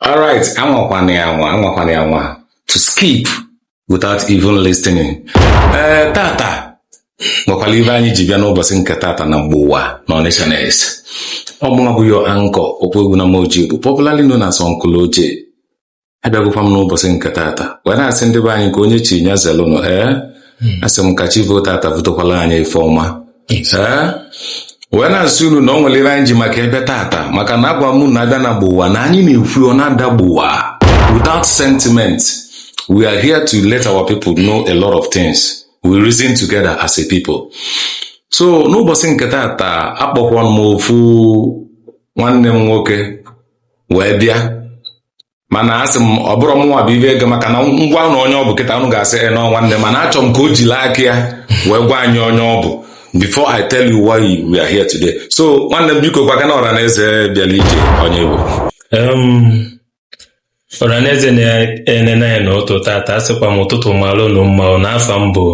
Alright, anwakwana ya anwa, anwakwana ya anwa. To skip without even listening. Eh, tata nwekwalụ ive anyị ji bịa n'ụbọsị nke tata na Gbowa na Onitsha News. Ọ bụ mụnwa bụ your anchor Okwuegbunam Ojiobu popularly known as Uncle Oje. Abịagokwa m n'ụbọsị nke tata wee na-asị ndị be anyị ka onye chi nya zelụnụ ee asị m ka chi voo tata votakwalụ anyị ife ọma wee na-asị unu na ọ nwelụ ive anyị ji maka ya bịa tata maka na agwa m unu na a bịa na Gbowa na anyị na-ekwu ọ na-ada gbowa without sentiment we are here to let our people know a lot of things we reason together as a people so n'ụbọsị nke tata akpọkwa m ofu nwanne m nwoke wee bịa mana asị m ọ bụrọ mụnwa bụ ive ga maka na m gwa unu onye ọ bụ kịta unu ga-asị na ọ nwanne m mana achọ m ka o jili aka ya wee gwa anyị onye ọ bụ before I tell you why we are here today so nwanne m biko gwakene ọra na eze bịalụ ije onye ị bụ ọranaeze na-enene anyị n'ụtụtụ tata asịkwa m ụtụtụ malụ unu mma na afa m bụ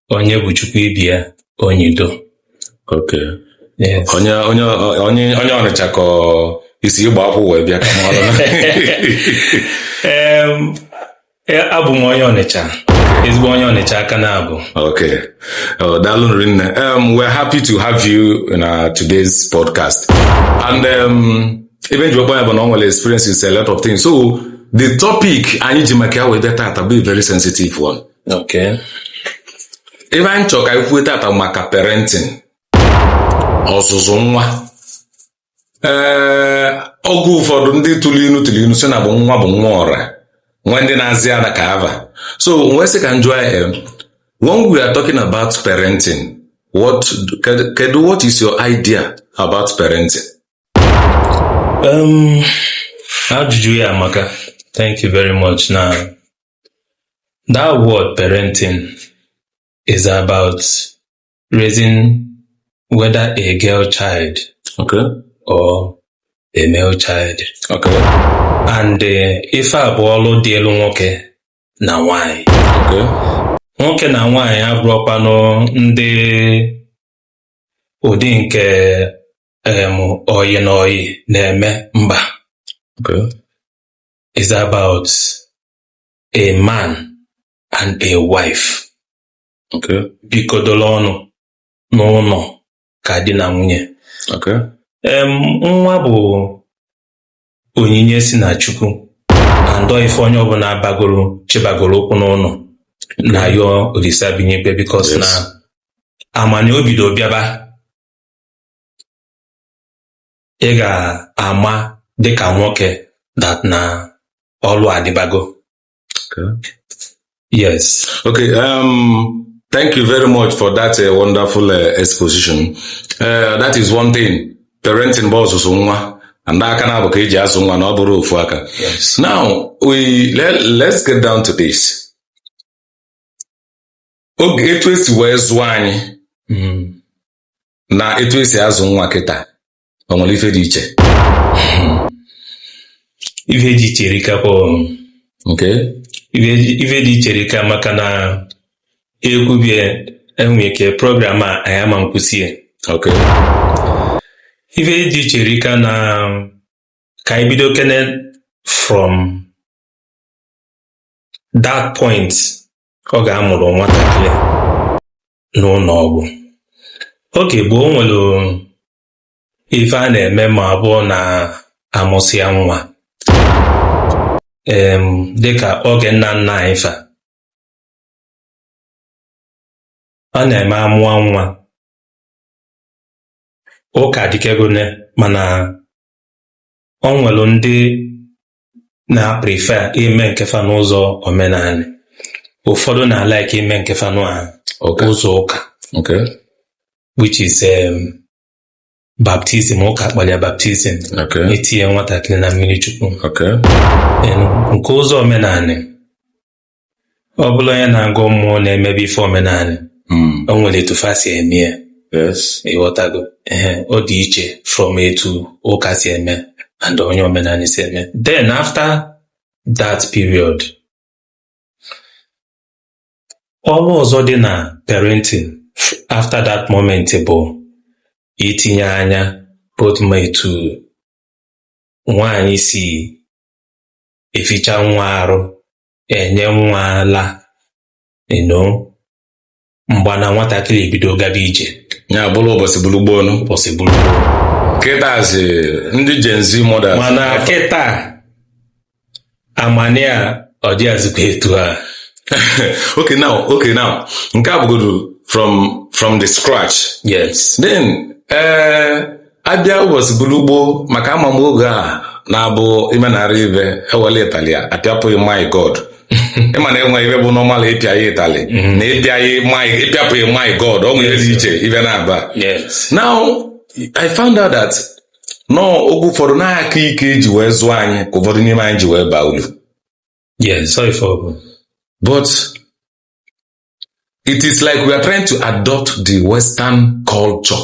Onyebuchukwu Ibia Onyido okay yes onye onye onye onye Ọnịcha ka ọ i si Igbakwu wee bịa ka m malụ na Em, e, abụ m onye Ọnịcha ezigbo onye Ọnịcha ka m na-abụ Okay. Oh, daalụ rinne. Um, we're happy to have you in our today's podcast. And um, ive m ji kpọọ ya bụ na ọ nwelụ experiences a lot of things. So the topic anyị ji maka ya wee bịa tata bụ a very sensitive one. Okay. ive anyị chọrọ ka anyị kwuo tata maka parenting ọzụzụ nwa ee oge ụfọdụ ndị tụlụ inu tụlụ inu sị na bụ nwa bụ nwa ọra nwee ndị na-aza ya ka ava so m wee sị ka m jụa gị em, when we are talking about parenting what kedu- kedu what is your idea about parenting Um, ajụjụ ya amaka thank you very much now That word parenting is about raising whether a girl child okay. or a male child. Okay. And uh, ife a bụ ọlụ dịịlụ nwoke na nwanyị. Okay. Nwoke na nwanyị abụrọkwanụ ndị ụdị nke um, ọyị na ọyị na-eme mba. Okay. It's about a man and a wife. Okay. Bikọdolu ọnụ n'ụnọ ka di na nwunye. Okay. Um, nwa bụ onyinye si na Chukwu and ọ ife onye ọbụna bagoro chebagoro ụkwụ n'ụnọ na-ayọ Olisa bi n'igwe because yes. na a ma na o bido bịaba ị ga-ama dịka nwoke that na ọlụ adịbago yes okay um, thank you very much for that uh, wonderful uh, exposition uh, that is one thing parenting bụ ọzụzụ nwa and aka naabọ ka eji azụ nwa na ọ bụrọ ofu aka now we let, let's get down to this oge etu esi wee zụọ anyị hmm. na etu esi azụ nwa kịta o nwere ife dị iche ife dị iche erikakwa okay ife dị iche erika maka na ekwubie enwe ike program a anyị ama nkwụsị ya ok ife dị iche erika na ka anyị bidokene from that point oge a mụrụ nwatakịrị n'ụnọ ọgwụ oge gboo o nwere ife a na-eme ma ọ bụrụ na amụsịa nwa em dịka oge nna nna anyị fa ọ na-eme amụọ nwa ụka dịkegone mana o nwere ndị na-prefer ime nke fa n'ụzọ omenanị ụfọdụ na-alike ime nke fa n'ụzọ ụka okay which is um, baptism ụka kpọlụ ya baptism etinye nwatakịrị na mmiri Chukwu okay and nke ụzọ omenanị ọ bụla onye na-agọ mmụọ na-emebe ife omenanị hmm. o nwere etu fa si eme ya ịghọtago ee ọ dị iche from etu ụka si eme and onye omenanị si eme then after that period ọrụ ọzọ dị na parenting after that moment bụ itinye anya both ma etu nwaanyị si eficha nwa arụ enye nwa ala you know mgba na nwatakịrị ebido gaba ije ya bụrụ ụbọchị bụrụ gboo nụ ụbọchị bụrụ gboo kịtazi ndị Gen Z mothers mana kịta amani a ọ dịghazikwa etu a okay now okay now nke a bụgodu from from the scratch yes then eh abịa ụbọchị bụrụ gboo maka ama m oge ọ na-abụ imenarị ife ewele ịtali ya apịapụ gị my god ịma na enwe ife bụ normal ịpịa ya ịtali na ịpịapụ gị my god o nwere dị iche ife na-aba Yes. now i found out that na oge ụfọdụ na aka ike eji wee zụọ anyị ka ụfọdụ n'ime anyị ji wee baa ulu Yes. Sorry for problem. But it is like we are trying to adopt the Western culture.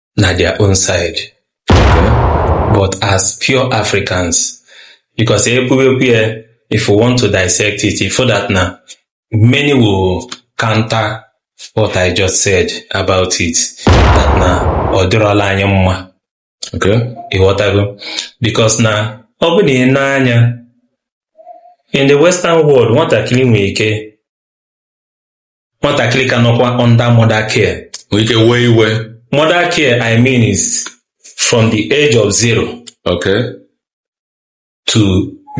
na their own side but as pure Africans because ekwuwekwu ya if we want to dissect it ị fụ that na many will counter what I just said about it that na ọ dịrọla anyị mma okay ịghọtago because na ọ bụ na i nee anya in the western world nwatakịrị nwere ike nwatakịrị ka nọkwa under mother care nwere ike wee iwe mother care i mean is from the age of zero okay to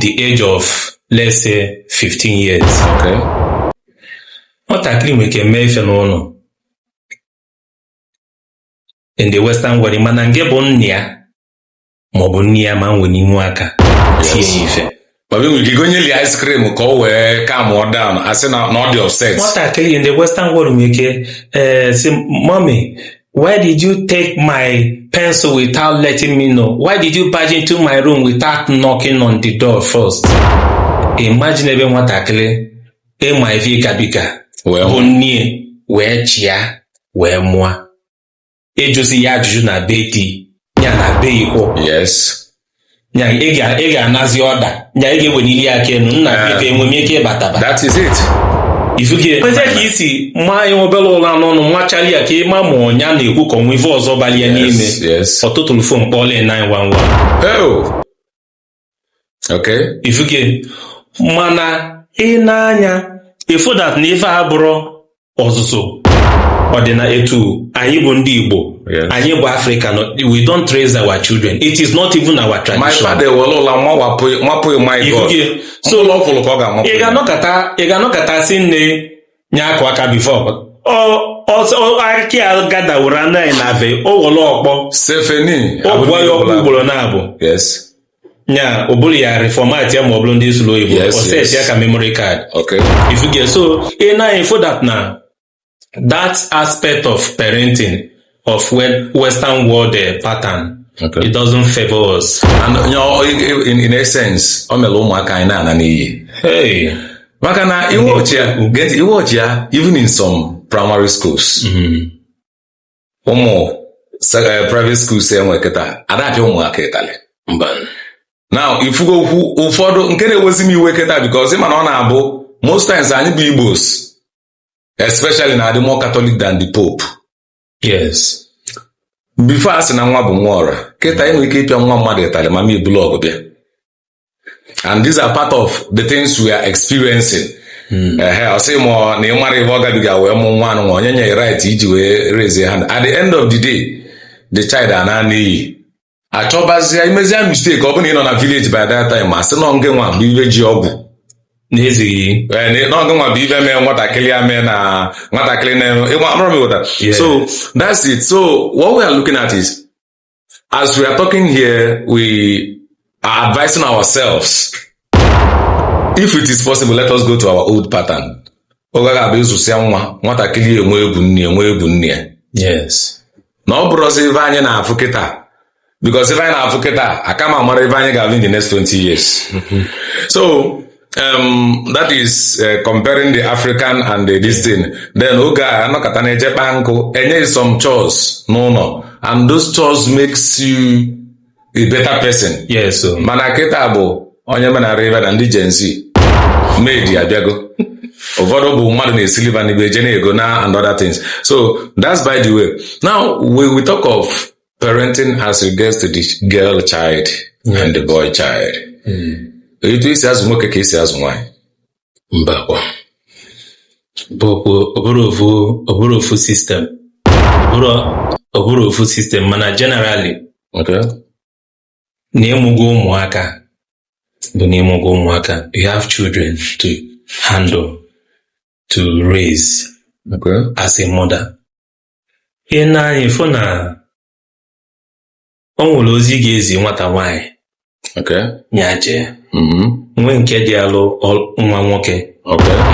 the age of let's say 15 years okay nwatakịrị nwere ike mee ife n'ụnọ in the western world mana nke bụ nna ya ma ọ bụ nne ya ama eweninwu aka tie ya ife Baba e nwere ike gonyeli ice cream ka ọ wee calmụọ down a sị na ọ dị upset nwatakịrị in the western world nwere ike eh, sị mommy why did you take my pencil without letting me know why did you barge into my room without knocking on the door first imagine ebe nwatakịrị ị ma ife ị gabiga wee bụrụ nne wee chịa wee mụọ ịjụzi ya ajụjụ na be di ya na be ikwo yes nya ị ga- ị ga-anazi order nya ị ga-ewenili aka enu nna Ah. ka enwe m ike ịbataba that is it ifuge kwezi ka ị sị maa ya obere ụla n'ọnụ nwachali ya ka ị ma ma ọ nya na-ekwu ka o nwe ife ọzọ bali ya n'ime yes yes ọ tụtụlụ phone kpọọla 911 oh okay ifuge mana i nee anya ị fụ that na ife a abụrọ ọzụzụ ọ dị na etu anyị bụ ndị Igbo Yes. anyị bụ Africa no, we don't raise our children it is not even our tradition my father ewere ụla mapụ gị my god Ifuge. so ụla ọkwụrụ ka ọ ga-amapụ ị ga-anọkọta ị ga-anọkọta sị nne nya kụa aka before ọkịa gadaworo anụ anyị na be o were ọkpọ sefeni ọ kụgbuo ya ọkpọ ugboro naabọ yes nya o buru ya reformat ya ma ọ bụrụ ndị sụlụ oyibo Yes, ọ set yes. ya ka memory card okay ifuge so i nee anya ị fụ that na that aspect of parenting of Western world eh, pattern Okay. It doesn't favor us. And you know, in, in essence, o mere ụmụaka anyị na-ana n'iyi. Hey. Maka na ị watch ya, get ị watch ya even in some primary schools. Mm-hmm. Ụmụ eh, private schools e nwe kịta, a da-apịa ụmụaka ịtalị. Mba. Now, ifugo okwu ụfọdụ nke na-ewezi m iwe kịta because ị ma na ọ na-abụ most times anyị bụ Igbos especially na-adị more Catholic than the Pope yes before a sị na nwa bụ nwa ọra kịta ị nwere ike ịpịa nwa mmadụ ịtalị mama ya ebulu ọgụ bịa and these are part of the things we are experiencing ehe ọ sị ma ọ- na ị mara ife ọ gabiga wee mụ nwa anụ nwa onye nye right iji wee raise hand at the end of the day the child ana n'iyi achọbazia imezia mistake ọ bụrụ na ị nọ na village by that time asị na ọ ngị nwa bụ ife ji ọgwụ n'ezighị Eh, na ọ ngị nwa bụ ife mee nwatakịrị ya mee na nwatakịrị na ịgba amụrụ m ịghọta Yeah. so that's it so what we are looking at is as we are talking here we are advising ourselves if it is possible let us go to our old pattern oge ga-abụ ị zụsịa nwa nwatakịrị enwe egwu nne enwe egwu nne ya yes na ọ bụrọzi ife anyị na-afụ kịta because ife anyị na-afụ kịta aka ma mara ife anyị ga-afụ in the next 20 years so um, that is uh, comparing the African and the this thing then oge a anọkọta na-eje kpaa nkụ enye gị some chores n'ụnọ and those chores makes you a better person yes o. mana kịta bụ onye menara ibe na ndị Gen Z maid abịago ụfọdụ bụ mmadụ na-esili fa nni fa eje na-ego na and other things so that's by the way now we, we talk of parenting as regards to the girl child and the boy child etu esi azụ nwoke ka esi azụ nwaanyị mbakwa ọ bụrọ ofu system ọ bụrọ ofu system mana generally na ịmụgo ụmụaka bụ na ịmụgo ụmụaka you have children to handle to raise as a mother ihe na anyị fụ na o nwere ozi a ga-ezi nwata nwaanyị ya jee mm-hmm. nwee nke dị alụ nwa nwoke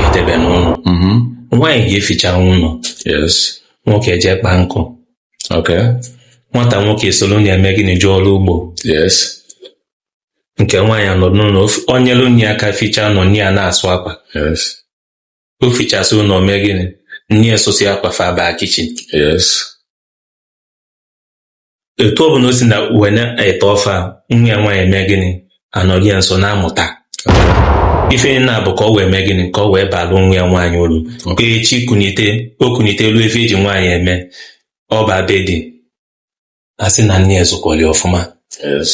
edebe n'ụnọ mm-hmm. nwaanyị ga-eficha ụnọ nwoke eje kpaa nkụ nwata nwoke esolo nna ya mee gịnị jee ọlụ ugbo nke nwaanyị anọ n'ụnọ nyelu nne ya aka ficha ụnọ nne ya na-asụ akwa o fichasịa ụnọ mee gịnị nne ya sụsịa akwa fa abaa kitchen etu ọ bụna o si nọ wee na-ete ofe nwa ya nwaanyị mee gịnị anọrị ya nso na-amụta ife niine a bụ ka ọ wee mee gịnị ka ọ wee balụ nwa ya nwaanyị ulu ka echi kunite o kunite lue ife eji nwaanyị eme ọ baa be di asị na nne ya zụkwalụ ya ọfụma yes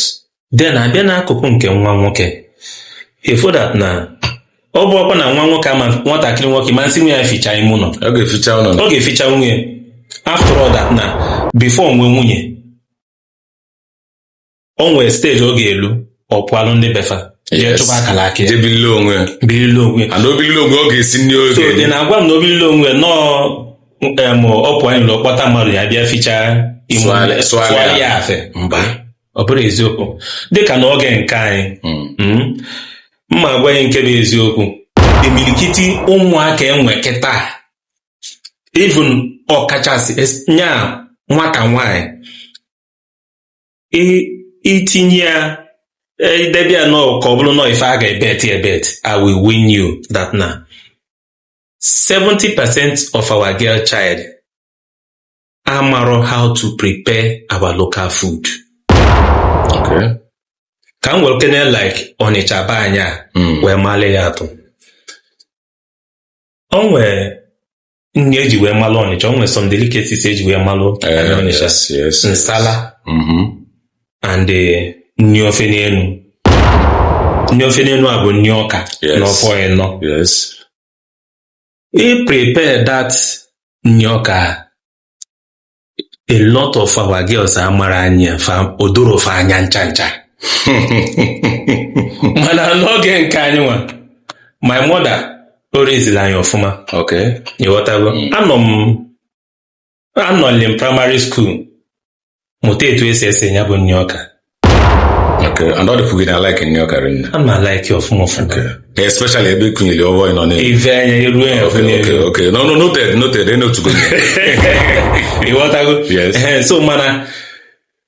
then abịa n'akụkụ nke nwa nwoke ị fụ that na ọ bụ ọkwa na nwa nwoke ama nwatakịrị nwoke ma nsị nwe ya ficha ime ụlọ ọ ga-eficha ụlọ ọ ga-eficha nwunye after all that na before o nwee nwunye o nwere stage ọ ga-elu ọ pụalụ ndị be fa jee Yes. chụba akara aka ya jee birili onwe ya birili onwe ya and o birili onwe ọ ga-esi nri oge so dị na-agwa m na o birili onwe ya nọọ em, ọ pụọ anyị ụlọ kpọta mmadụ ya bịa ficha ime ụlọ, Sụgharịa- sụgharịa. sụgharịa afe mba ọ bụrụ eziokwu dịka n'oge nke anyị mm, m ma agwa gị nke bụ eziokwu imirikiti ụmụaka e nwe kịta even ọkachasị es- nya nwata nwanyị i- itinye ya eh, idebe ya nọ ka ọ bụrụ na ọ ife a ga-ebet ya ebet i will win you that na 70% of our girl child amarọ how to prepare our local food Okay. ka m werekene like ọnịcha be anyị a Mm. wee malị ya atụ o nwee nri eji wee malụ ọnịcha o nwee some delicacies eji wee malụ Eh, anyị ọnịcha yes, yes. nsala Mhm. and eh, nni ofe n'enu nni ofe n'enu a bụ nni ọka Yes. na ofe ọnịnọ Yes. Ị prepare that nni ọka. A lot of our girls amarọ anya fa o dorọ fa anya ncha ncha. Mana n'oge nke anyị nwa, my mother o raise-ili anyị ọfụma. Okay. Ịghọtago? Anọ m anọlị m primary school mụta etu esi esi ya bụ nni ọka Okay. And all the food I like nni ọka ana m a-like ọfụma ọfụma Okay. Especially ebe i kunyere ofe ọnịnọ na ife anya eruo ya ọfụma Okay, okay, okay. No, no, noted, noted. Enotugo. ịghọtago Yes. Ehe, so mana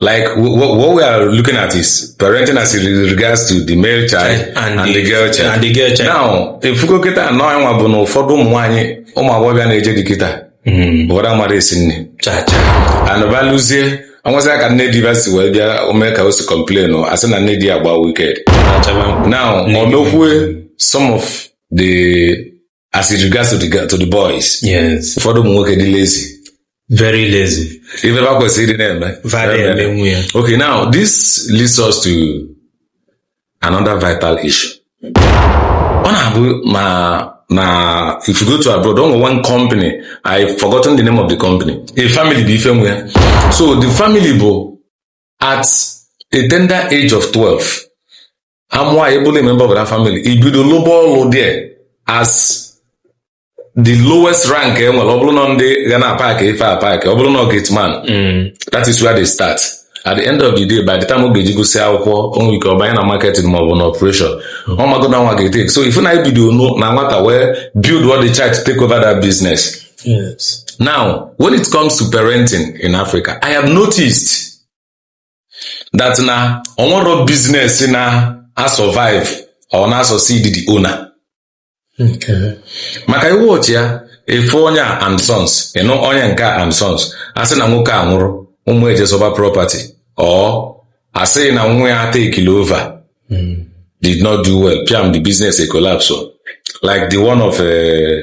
like what, what we are looking at is parenting as it regards to the male child and, and the, the girl child. And the girl child. Now, ife i kwu kịta nụnwa bụ na ụfọdụ ụmụ nwanyị ụmụ agbọghọbịa na-eje di kịta ụfọdụ amarọ esi nni and va lụzie o nwezie aka nne di va si wee bịa mee ka o si complain asị na nne di agba wicked now ọ mekwue some of the as it regards to the, to the boys yes ụfọdụ ụmụ nwoke dị lazy very lazy ife va kwesịrị ịdị na-eme va ada eme nwa ya okay now this leads us to another vital issue ọ na-abụ ma na if you go to abroad o nwere one company i forgotten the name of the company a family bụ ife nwe ya so the family bụ at a tender age of 12 ha mụọ anyị bụrụ member of that family i bido lụba ọlụ there as the lowest rank e nwere ọ bụrụ na ndị ga na-apaakị ife apaakị ọ bụrụ na gate man that is where they start at the end of the day by the time ọ ga-eji gụsịa akwụkwọ o nwee ike ọ banye na marketing maọbụ na operation ọ mago na nwa ga-etake so ị fụ na anyị bido nu- na nwata wee build up the child to take over that business Yes. now when it comes to parenting in africa i have noticed that na o nwerọ business na-asurvive or na-asucceed the owner maka ị watch ya ị fụ onye a and sons ị nụ onye nke a and sons a sị na nwoke a nwụrụ ụmụ eje zọba property or a sị na nwa ya takeli over did not do well piam the business ecollapse o. like the one of eh,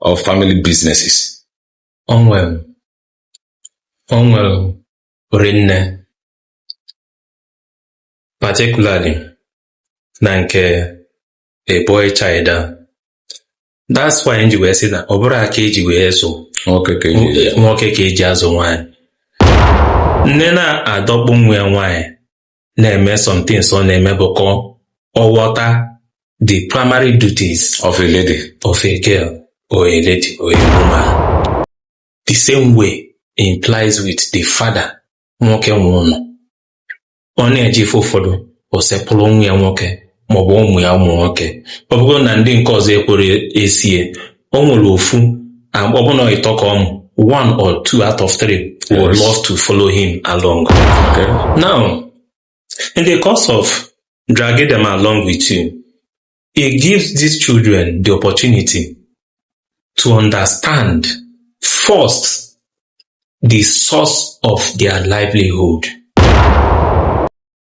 of family businesses? O nwere o nwere rinne particularly na nke a boy child a that's why m ji wee sị na ọ bụrọ aka e ji wee zụ nwoke ka e ji azụ nwaanyị nne na-adọkpụ nwa ya nwaanyị na-eme some things ọ na-eme bụ ka ọ ghọta the primary duties of a lady of a girl or a lady or a woman the same way implies with the father nwoke nwe ụnọ ọ na-eje ife ụfọdụ o sekpụrụ nwa ya nwoke maọbụ ụmụ ya ụmụ nwoke ọ bụgodu na ndị nke ọzọ ekwerọ eso ya o nwere ofu um, ọ bụ na ịtọ ka ọ mụ one or two out of three would Yes. love to follow him along Okay. now in the course of dragging them along with you it gives these children the opportunity to understand first the source of their livelihood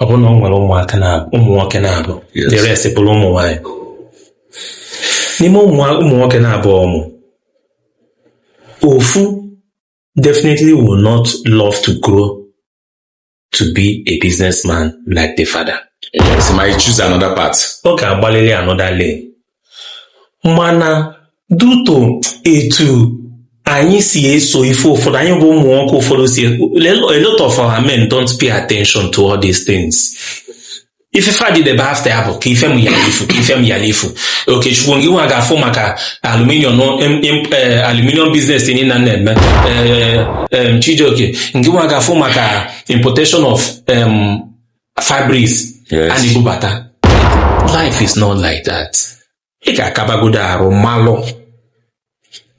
ọ bụrụ na o nwere ụmụaka na ụmụ nwoke naabọ Yes. the rest bụrụ ụmụ nwaanyị n'ime ụmụ ụmụ nwoke naabọ ọ mụ ofu definitely will not love to grow to be a businessman like the father Yes, might choose another path. ọ ga-agbalịrị another lane mana due to etu anyị si eso ife ụfọdụ anyị bụ ụmụ nwoke ụfọdụ si a lot of our men don't pay attention to all these things ife fa dị be after ya bụ ka ife m yalụ ifu ka ife m yalụ ifu okechukwu ngị nwa ga-afụ maka aluminium aluminium business niine a na-eme chijioke ngị nwa ga-afụ maka importation of fabrics Yes. a na-ebubata life is not like that ị ga-akabagodo arụ malụ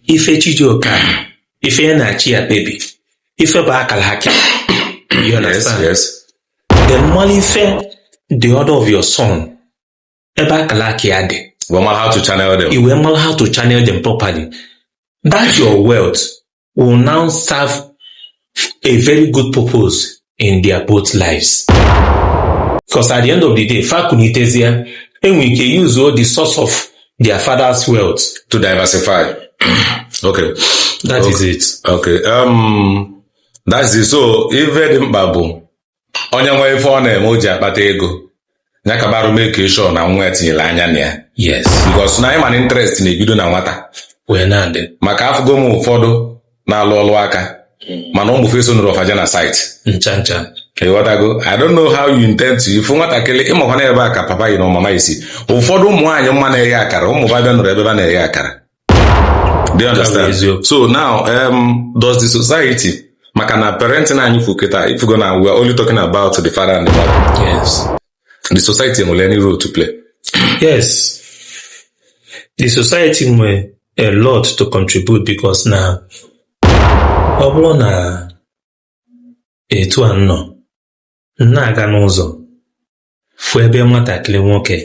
ife chi ji kee ya, ife ya na chi ya kpebi ife bụ akala aka you Yes, understand yes. then malụ ife the order of your son ebe akara aka ya dị We mara how to channel them. i wee mara how to channel them properly that your wealth will now serve a very good purpose in their both lives because at the end of the day fakunitezie enwere ike use all the source of their father's wealth To diversify. okay. That is it Okay. Um, that's it. So, ife dị mkpa bụ onye nwe ife ọ na-eme o ji akpata ego ya ka barụ make sure na nwa ya tinyere anya na ya yes because na anyị ma na interest na-ebido na nwata wee na-adị maka afụgo m ụfọdụ na-alụ ọlụ aka mana ụmụ fa esonụrọ fa eje na site ncha ncha ịghọtago i don't know how you intend to ịfụ nwatakịrị ị makwa na ebe a ka papa yi na mama yi si ụfọdụ ụmụ nwaanyị m ma na-eghe akara ụmụ ba abịanụrọ ebe ba na-eghe akara Do you understand? So now, um, does the society, maka na parenting anyị kwu kịta, if you go now, we are only talking about the father and the mother. Yes. The society nwere any role to play? yes. The society nwere a lot to contribute because na ọ bụrụ na etu a nọ na-aga n'ụzọ fụ ebe nwatakịrị nwoke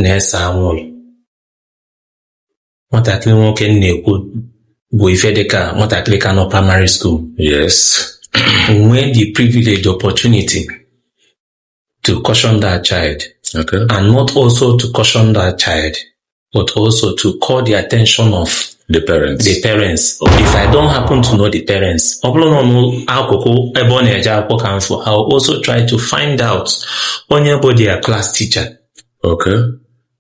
na-ese anwụrụ nwatakịrị nwoke m na-ekwu bụ ife dịka nwatakịrị ka nọ primary school yes nwee the privilege opportunity to caution that child okay and not also to caution that child but also to call the attention of the parents the parents if i don't happen to know the parents ọ bụrụ na ọ n'akụkụ ebe ọ na-eje akwụkwọ ka m fụ i will also try to find out onye bụ their class teacher Okay.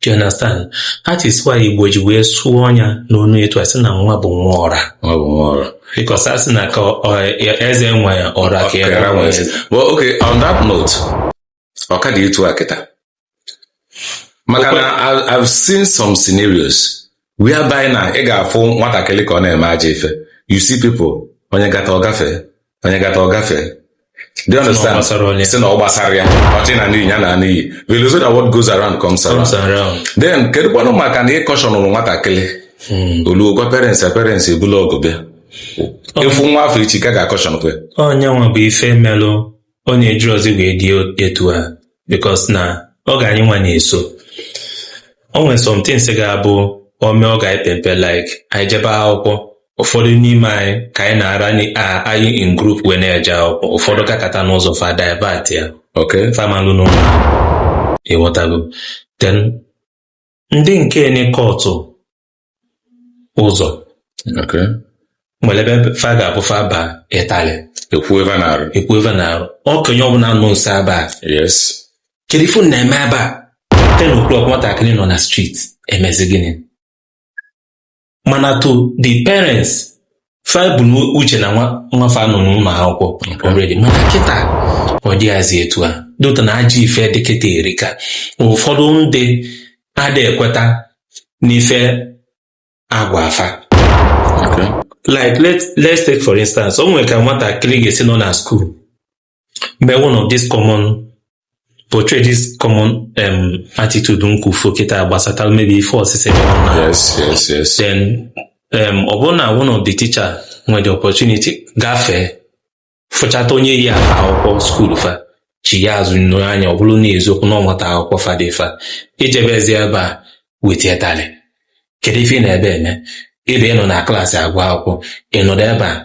Do you understand? That is why Igbo ji wee sụọ ọnya n'ọnụ etu a sị na nwa bụ nwa ọra. Nwa bụ nwa ọra. Because a sị na ka eze nwe ọra ka ya nwe ya. Well, okay, on that note, ọ ka dị etu a kịta. Maka na I've seen some scenarios whereby na ị ga-afụ nwatakịrị ka ọ na-eme ajọ ife you see people onye gata ọ gafee onye gata ọ gafee Do you understand? gbasara onye. Sị na ọ gbasarọ ya ọchị na n'iyi ya na n'iyi wee lozo na what goes around comes around Comes around. then kedu kwanụ maka na ị cautionụrụ nwatakịrị o luo gwa parents ya parents ebulu ọgụ bịa ị fụ nwa afụ echi ka ga-acautionụkwe Ọ nya nwa bụ ife melụ ọ na-ejizi wee dị etu a because na oge anyị nwa na-eso o nwere some things ga-abụ o mee oge anyị pe mpe like anyị jebe akwụkwọ ụfọdụ n'ime anyị ka anyị na-ara anyị in group wee na-eje akwụkwọ ụfọdụ gakata n'ụzọ fa divert ya fa amalụ n'ụlọ ịghọtago then ndị nke ne kọtụ ụzọ nwere ebe fa ga-apụ fa aba ịtalị ekwue va n'arụ okenye ọbụla nọ nso ebe a yes kedu ife unu na-eme ebe a ten o'clock nwatakịrị nọ na street emezi gịnị mana to the parents fa bu n'uche na nwa fa nọ n'ụlọ akwụkwọ already mana kịta ọ dịghazi etu a dota na ajọ ife dị kịta erika ụfọdụ ndị ada ekweta n'ife agwaa fa like let's take for instance o nwere ka nwatakịrị ga-esi nọ na school maybe one of this common portray this common um, attitude m kwufu kịta gbasatara maybe ife ọsịsị yes yes yes then um, ọ bụrụ na one of the teacher nwee the opportunity gafee fụchata onye yi afe akwụkwọ school fa chie azụ nee anya ọ bụrụ n'eziokwu na ọ nwata akwụkwọ fa dị fa ejebezi ebe a wete ịtalị kedu ife ị nọ ebe a eme ebe a nọ na class agụ akwụkwọ ị nọdụ ebe a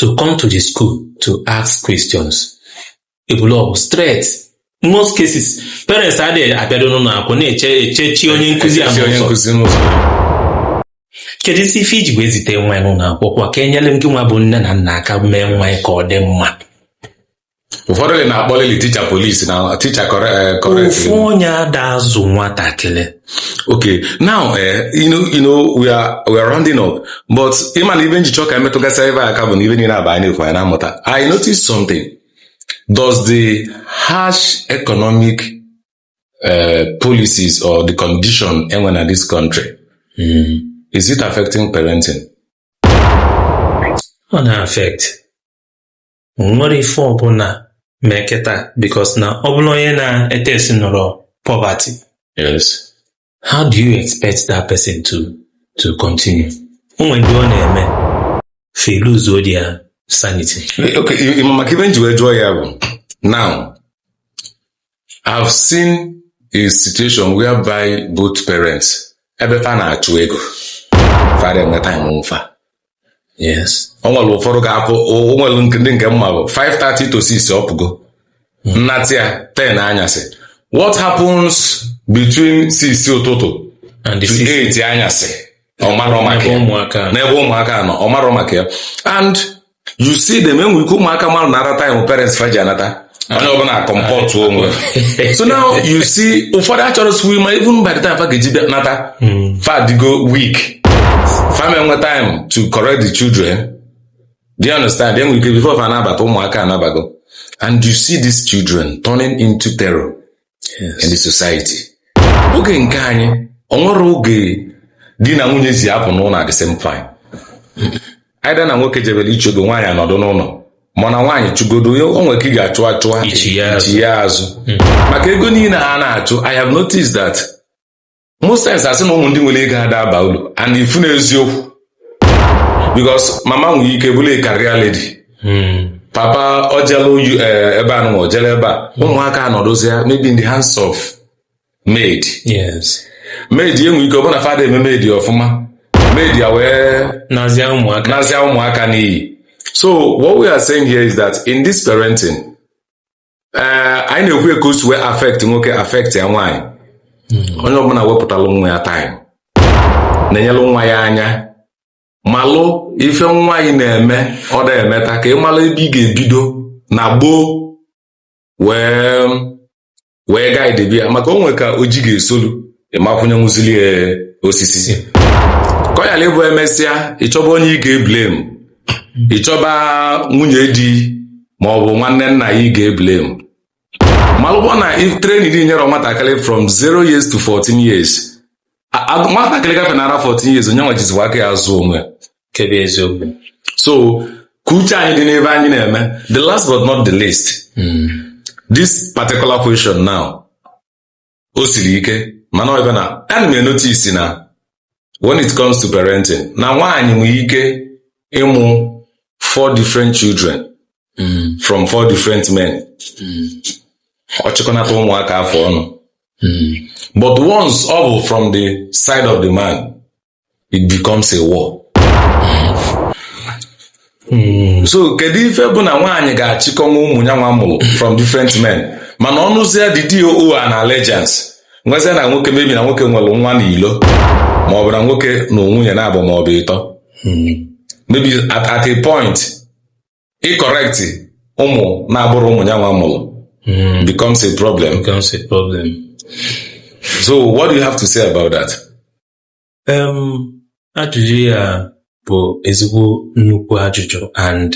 to come to the school to ask questions ebulu ọgụ straight most cases parents adịghị abịado n'ụlọ akwụkwọ na-eje echechi onye nkụzi a n'ụzọ kedu isi ife i ji wee zite nwa yị n'ụlọ akwụkwọ ka enyere ngị nwa bụ nne na nna aka mee nwa ya ka ọ dị mma ụfọdụ na-akpọlịlị teacher police na teacher correct ofu onye ada azụ nwatakịrị okay now eh, you know, you know we are we are rounding up but ịma na ive nji chọọ ka emetụgasị ebe aka bụ na ive niile aba anyị na-ekwu anyị na-amụta i notice something does the harsh economic uh, policies or the condition enwe na this country is it affecting parenting ọ na-affect nwere ife ọbụla ma eketa because na ọ bụrụ onye na-ete esi nọrọ poverty yes how do you expect that person to to continue o nwere ndị ọ na-eme fa eluzuo their sanity okay maka ive nji wee jụọ ya bụ now I've seen a situation whereby both parents ebe fa na-achụ ego fa ara enwe time ụmụ fa yes o nwere ụfọdụ ga-apụ o nwere nke- ndị nke mma bụ 5:30 to 6 ọ pụgo nnata ya 10 anyasị what happens between 6 ụtụtụ and the to 8 anyasị ọ marọ maka ebe ya ụmụaka nọ. n'ebe ụmụaka nọ ọ marọ maka ya and you see them enwere ike ụmụaka mmadụ na-amata time parents fa ji anata onye ọbụla acomportụ onwe so now you see ụfọdụ achọrọzi ịma even by the time fa ga-eji bịa nata hmm. fa adịgo weak fa ama enwe time to correct the children do you understand enwere ike before fa anabata ụmụaka anabago and you see these children turning into terror yes. in the society oge nke anyị o nwerọ oge di na nwunye ji apụ n'ụnọ at the same time either na nwoke jebere ịchụ ego nwaanyị anọdụ n'ụnọ mana nwaanyị chụgodo ya o nwere ka ị ga-achụ achụ a ichi ya azụ. ichi ya azụ maka ego niine a na-achụ i have noticed that most times a sị na ụmụ ndị nwere ego ada aba ulu and ị fụ na eziokwu because mama nwere ike bụrụ a career lady papa ojelu yu- eh, ebe a nụnwa ojele ebe a ụmụaka anọdụzịa maybe in the hands of maid yes maid enwe ike ọ bụ na fa ada eme maid ọfụma maid ya wee nazịa ụmụaka n'iyi so what we are saying here is that in this parenting ee eh, anyị na-ekwu ka o si wee affect nwoke affectịa nwaanyị hmm. onye ọbụla wepụtalụ nwa ya time na-enyelụ nwa ya anya malụ ife nwa anyị na-eme ọ da emeta ka ị malụ ebe ị ga-ebido na gboo wee wee guidebe ya maka o nwe ka oji ga-esolu ị ma kwụnyenwuzili ya osisi ka ọ yala ịbụ emesịa ịchọba onye ị ga-eblame ị chọba nwunye di ma ọ bụ nwanne nna ya ị ga-eblame malụkwa na ife training ị nyerọ nwatakịrị from 0 years to 14 years A- a- nwatakịrị gafe nara 14 years ọ nyanwa jizikwa aka ya azụ onwe ya. nke bụ eziokwu so ka uche anyị dị n'ife anyị na-eme the last but not the least this particular question now o siri ike mana ọ ebe na ana m enotice na when it comes to parenting na nwaanyị nwere ike ịmụ four different children Mm, from four different men mm, ọ chịkọnata ụmụaka afụ ọnụ mm, but once ọ bụ from the side of the man it becomes a war hmm. so kedu ife bụ na nwaanyị ga-achịkọnwu ụmụ nyanwa mụlụ from different men mana ọ nụzie the DOO and allegiance nwezie na nwoke maybe na nwoke nwere nwa n'ilo ma ọ bụ na nwoke nụ nwunye naabọ ma ọ bụ ịtọ hmm. maybe at, at a point ịcorrect ụmụ na-abụrọ ụmụ nyanwa mụlụ hmm. becomes a problem becomes a problem so what do you have to say about that um ajụjụ ya bụ ezigbo nnukwu ajụjụ and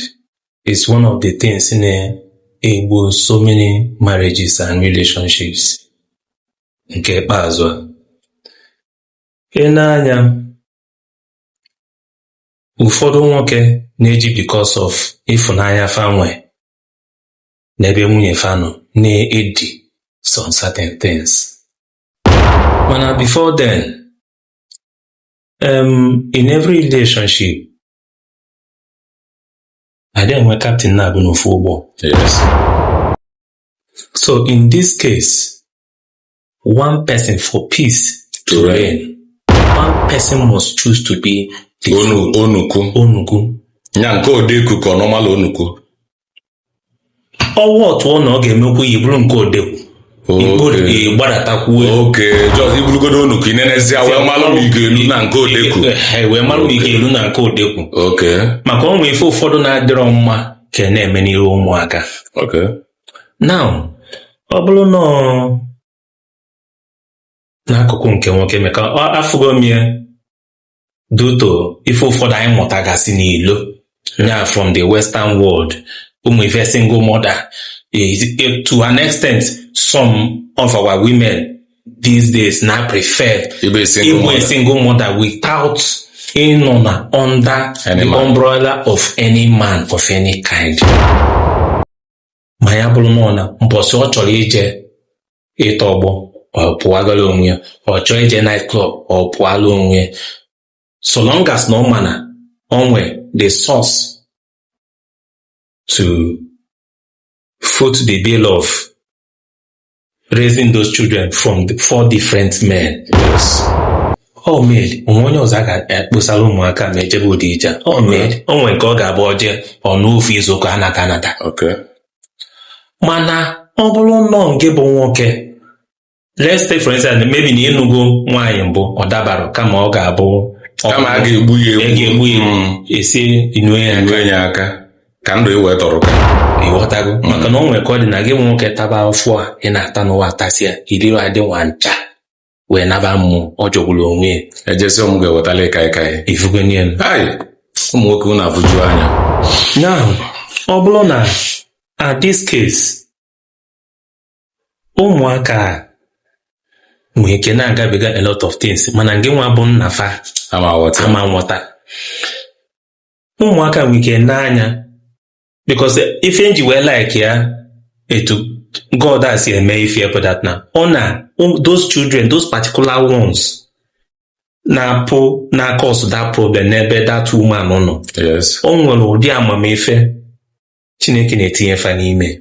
it's one of the things na-egbu so many marriages and relationships nke ikpeazụ a ị nee anya ụfọdụ nwoke na-eji because of ịfụnanya fa nwe n'ebe nwunye fa nọ na-edi some certain things mana before then um, in every relationship adị enwe captain naabọ n'ofu ụgbọ yes. so in this case one person for peace to reign one person must choose to be the onuku onuku ya nke odeku ka ọ normal onuku ọwa otu ọ na ọ ga-emekwu ya ị bụrụ nke odekwu Okay. gbadatakwuo okay just ị bụrụgodu onuku ị nenezie wee malụ ma ị ga-elu na nke odekwu Eh, wee mara ma ị ga-elu na nke odekwu okay maka o nwee ife ụfọdụ na-adịrọ mma ka a na-eme n'iru ụmụaka okay now ọ bụrụ na ọ- n'akụkụ nke nwoke maka afụgo m ya due to ife ụfọdụ anyị mụtagasị n'ilo ya from the western world ụmụ ife single mother is eh, to an extent some of our women these days na prefer ịbụ a single mother without ịnọ na under the umbrella of any man of any kind ma ya bụrụ na ọ na mbọsị ọ chọrọ ije ịtọ ọgbọ ọ pụagala onwe ya ọ chọọ ije night club ọ pụọla onwe ya so long as na ọ ma na o nwe the source to foot the bill of raising those children from the four different men yes ọ mere o nwee onye ọzọ a ga-ekposara ụmụaka ma ejebe ụdị ije a. ọ mere o nwere nke ọ ga-abụ o je ọ nọọ ofu izu ụka anata anata okay mana ọ bụrụ nnọọ nke bụ nwoke let's take for instance maybe na ị nụgo nwaanyị mbụ ọ dabarọ kama ọ ga-abụ kama a ga-egbu ya a ga-egbu ya Mm. esi inue ya aka. Enwe ya aka ka ndụ ị wee tọrọ ka ị ghọtago maka na o nwere ka ọ dị na gị nwoke taba afụfụ a ị na-ata n'ụwa atasịa i lirọ adị nwa ncha wee naba mmụọ ọ jọgburu onwe ya ejesi ọ mụ ga-ewetala ị kaịkaị ị fụgo nya ai ụmụ nwoke unu afụju anya now ọ bụrụ na at this case ụmụaka a nwee ike na-agabiga a lot of things mana gị nwa bụ nna fa ama aghọta ụmụaka nwere ike n'anya because ife m ji wee like ya etu God si eme ife bụ that na ọ na those children those particular ones na-apụ na-acause that problem n'ebe that woman nọ o nwere ụdị amamife Chineke na-etinye fa n'ime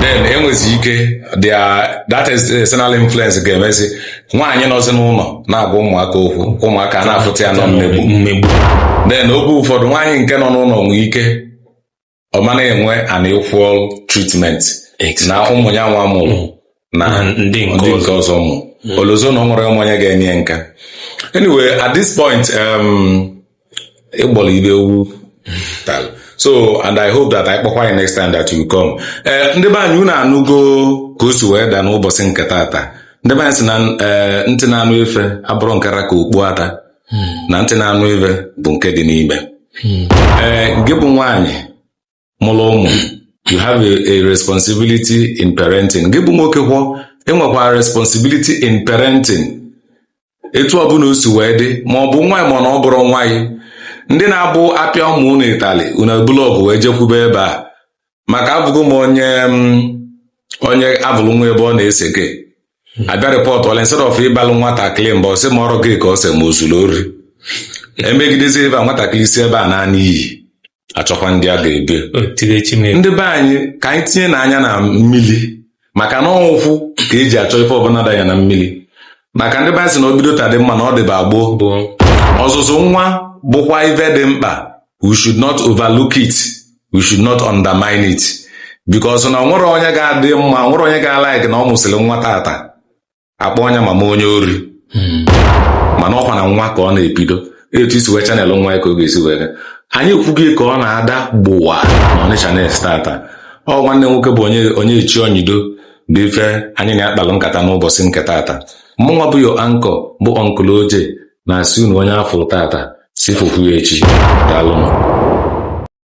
then enwezi ike their that is external influence ga-emezi nwaanyị nọzi n'ụnọ na-agwa ụmụaka okwu ụmụaka a na-afụta ya na ọ mmegbu mmegbu then oge ụfọdụ nwaanyị nke nọ n'ụnọ nwee ike ọ ma na-enwe an equal treatment na ụmụ ya nwa mụlụ na na ndị nke ndị nke ọzọ ọzọ mụ o lozo na o nwerọ onye ma onye ga-ene ya nka anyway at this point um, ịgbọrọ ibe ewu tal so and i hope that anyị kpọkwa gị next time that you come ee ndị be anyị unu anụgo ka o si wee daa n'ụbọsị nke tata ndị be anyị sị na ee, ntị na-anụ ife abụrọ nke ra ka okpu ata na ntị na-anụ ife bụ nke dị n'ime ee gị bụ nwaanyị mụlụ ụmụ you have a, a responsibility in parenting gị bụ nwoke kwa enwekwa responsibility in parenting etu ọbụla o si wee dị ma ọ bụ nwa gị ma na ọ bụrọ nwa gị ndị na-abụ a pịa ụmụ unu ịtalị unu ebulu ọgụ wee jekwube ebe a maka afụgo m onye mm, onye afụlụ nwa ebe ọ na-ese gị a bịa rịpọtụ ọla instead of ịbalụ nwatakịrị mba ọ sị ma ọrụ gị ka ọ sị ma o zuru ori emegidezi ebe a nwatakịrị si ebe a naanị iyi achọkwa ndị a ga-ebe ndị be anyị ka anyị tinyenụ anya na mmili maka na ọ ụkwụ ka e ji achọ ife ọbụna danye na mmili maka ndị be anyị sị na o bido taa dị mma na ọ dịba gboo ọzụzụ nwa bụkwa ife dị mkpa we should not overlook it we should not undermine it because na o nwerọ onye ga-adị mma o nwerọ onye ga-alaik na ọ mụsịrị nwa tata a kpọọ ya mama onye ori hmm. mana ọ kwa na nwa ka ọ na-ebido etu i si wee channel nwa gị ka ọ ga-esi wee anyị ekwugo ka ọ na-ada gbụwa na ọnịcha na-esi tata ọ nwanne nwoke bụ onye onye echi onyido bụ ife anyị na-akpalụ nkata n'ụbọsị nke tata mụnwa bụ your anchor bụ uncle oje na-asị unu onye afụ tata si fụkwuo echi daalụnụ